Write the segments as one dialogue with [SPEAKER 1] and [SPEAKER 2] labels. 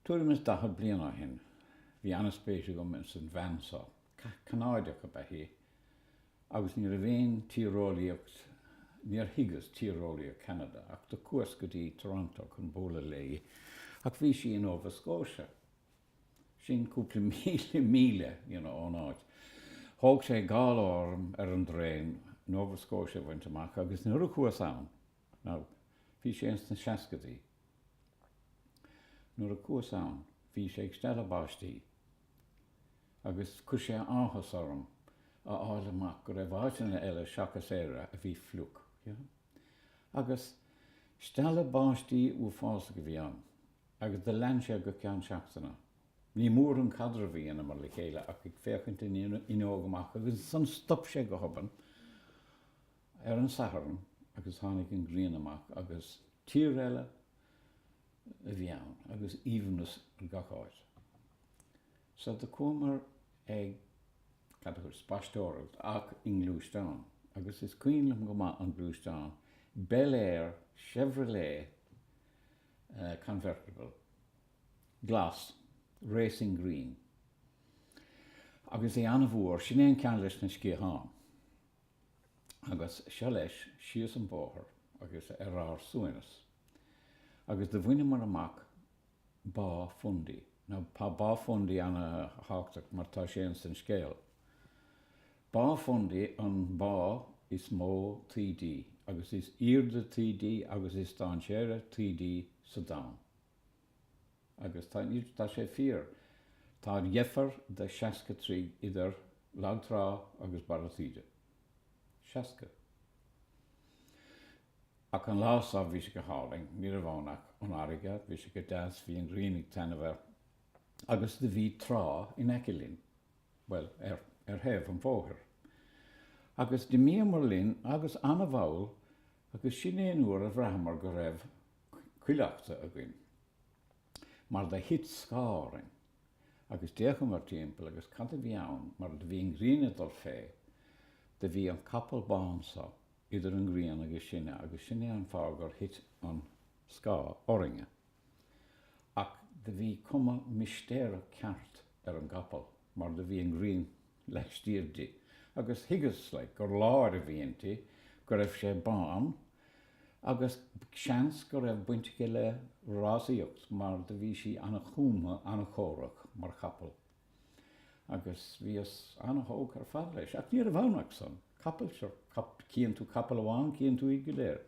[SPEAKER 1] Tuairim is daichead bliain ó shin, bhí an-spéis agam ins an bhean so. Ceanadach ab ea í, agus ní raibh aon tíreolaíocht, níor thuigeas tíreolaíocht Cheanada, ach do chuas go dtí Toronto chun bualadh léi, ach bhí sí i Nova Scotia, sin cúpla míle míle, you know, ón áit. Thóg sé dhá lá orm ar an dtraen Nova Scotia a bhaint amach, agus nuair a chuas ann, Now, bhí sé ins na seascaidí. Nuair a chuas ann bhí sé ag stealladh báistí agus chuir sé áthas orm a fháil amach go raibh áiteanna eile seachas Éire a bhí fliuch. Agus stealladh báistí uafásach a bhí ann agus do lean sé go ceann seachtaine. Ní mór an caidreamh a dheineamar le chéile ach ag féachaint an fhuinneog amach agus ansan stop sé go hobann ar an Satharn agus tháinig an ghrian amach agus tír eile a bhí ann agus aoibhneas ar gach áit. So do chuamar ag, cad a thuas, spaisteoireacht ach i ngluaisteán agus is cuimhin liom go maith an gluaisteán, Bel Air Chevrolet Convertible, glas, racing green agus é an-mhór, sin é an ceann leis na sciatháin. agus seo leis síos an bóthar agus ar ár suaimhneas. Agus do bhaineamar amach Bá Fundy. Now, tá Bá Fundy an-thábhachtach mar tá sé ins an scéal. Bá Fundy an bá is mó taoide agus is aoirde taoide agus is dainséaraí taoide sa domhan. Agus tá tá sé fíor. Tá an-dheifir de seasca troigh idir lag trá agus barra taoide. Seasca. Ach an lá so bhí sé go hálainn, ní raibh ann ach an fharraige, bhí sé go deas, bhí an ghrian ag taitneamh air. Agus do bhí trá in aice linn, bhuel, ar, ar thaobh an bhóthair. Agus d'imíomar linn agus ana-mhall agus sin é an uair a bhraitheamar go raibh, cuileachta againn, mar do thit scáth orainn, agus d'fhéachamar timpeall agus cad a bhí ann mar do bhí an ghrian ag dul fé, do bhí an capall bán so idir an ghrian agus sinne agus sin é an fáth gur thit an scáth orainne. Ach do bhí cuma mistéireach ceart ar an gcapall mar do bhí an ghrian laistiar di, agus thuigeas, like, gur láir a bhí inti, go raibh sé bán, agus seans go raibh baint aici le rásaíocht mar do bhí sí an-chúmtha, an-chórach mar chapall, agus bhíos an-thógtha ar fad leis, ach ní raibh ann ach san. capall, so cíonn tú capall amháin cíonn tú iad go léir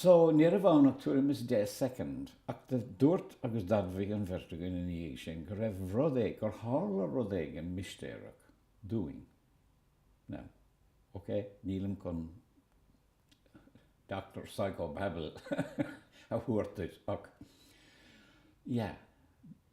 [SPEAKER 1] so ní raibh ann ach tuairim is deich soicind ach dúirt agus d'admhaigh an bheirt againn ina dhiaidh sin go raibh rud éigin, gur tharla rud éigin mistéireach dúinn. Now, ok, nílim chun Doctor Psychobabble a thabhairt duit ach yeah.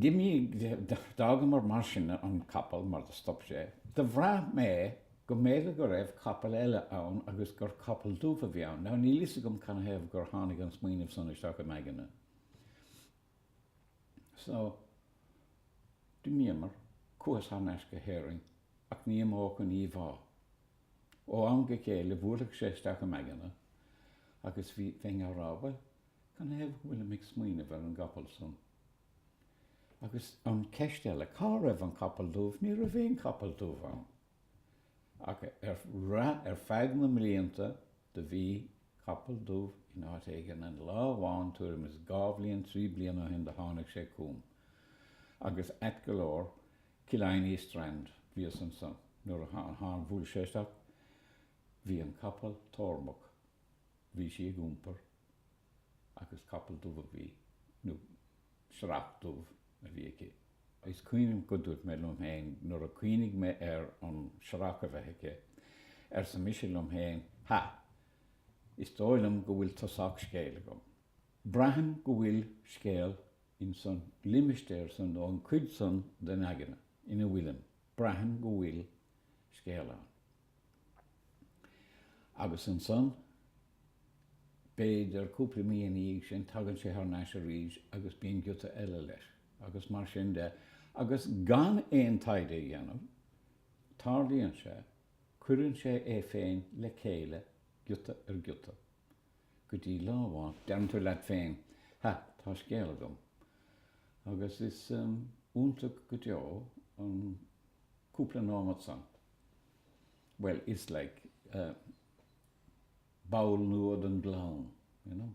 [SPEAKER 1] D'imthigh, d'fhágamar mar sin an capall mar do stop sé. Do bhraith mé go mb'fhéidir go raibh capall eile ann agus gur capall dubh a bhí ann. Now níl fhios agam canathaobh gur tháinig an smaoineamh san isteach im aigne. So, d'imíomar, chuas thar n-ais go hÉirinn ach ní imeodh an íomhá. Ó am go chéile bhuailfeadh sé isteach im aigne agus bhí, bheinn á rá, bhuel, Canathaobh go bhfuilim ag smaoineamh ar an gcapall san? Agus an cheist eile, cá raibh an capall dubh? Ní raibh aon chapall dubh ann. Ach ar feadh na mblianta do bhí capall dubh in áit éigin and lá amháin tuairim is dhá bhliain, trí bliana ó shin do tháinig sé chugam agus ait go leor Killiney Strand bhíos ansan nuair a bhuail sé isteach bhí an capall tórmach bhí sí ag iompar agus capall dubh a bhí, nó searrach dubh a bhí aici. Is cuimhin go dúirt mé liom féin nuair a chuimhnigh mé ar an searrach a bheith aici, arsa mise liom féin, ha! is dóigh liom go bhfuil tosach scéil agam. Braithim go bhfuil scéal in san limistéar san nó an cuid san den aigne ina bhfuilim, braithim go bhfuil scéal ann. Agus ansan, b'fhéidir, cúpla mí ina dhiaidh sin, tagann sé thar n-ais arís agus bíonn giota eile leis, agus mar sin de, agus gan aon taighde a dhéanamh, tarlaíonn sé, cuireann sé é féin le chéile, giota ar ghiota, go dtí lá amháin, deireann tú leat féin, ha, tá scéal agam. Agus is iontach go deo an cúpla nóimeat san. bhuel, is like ball nua den gclann, you know.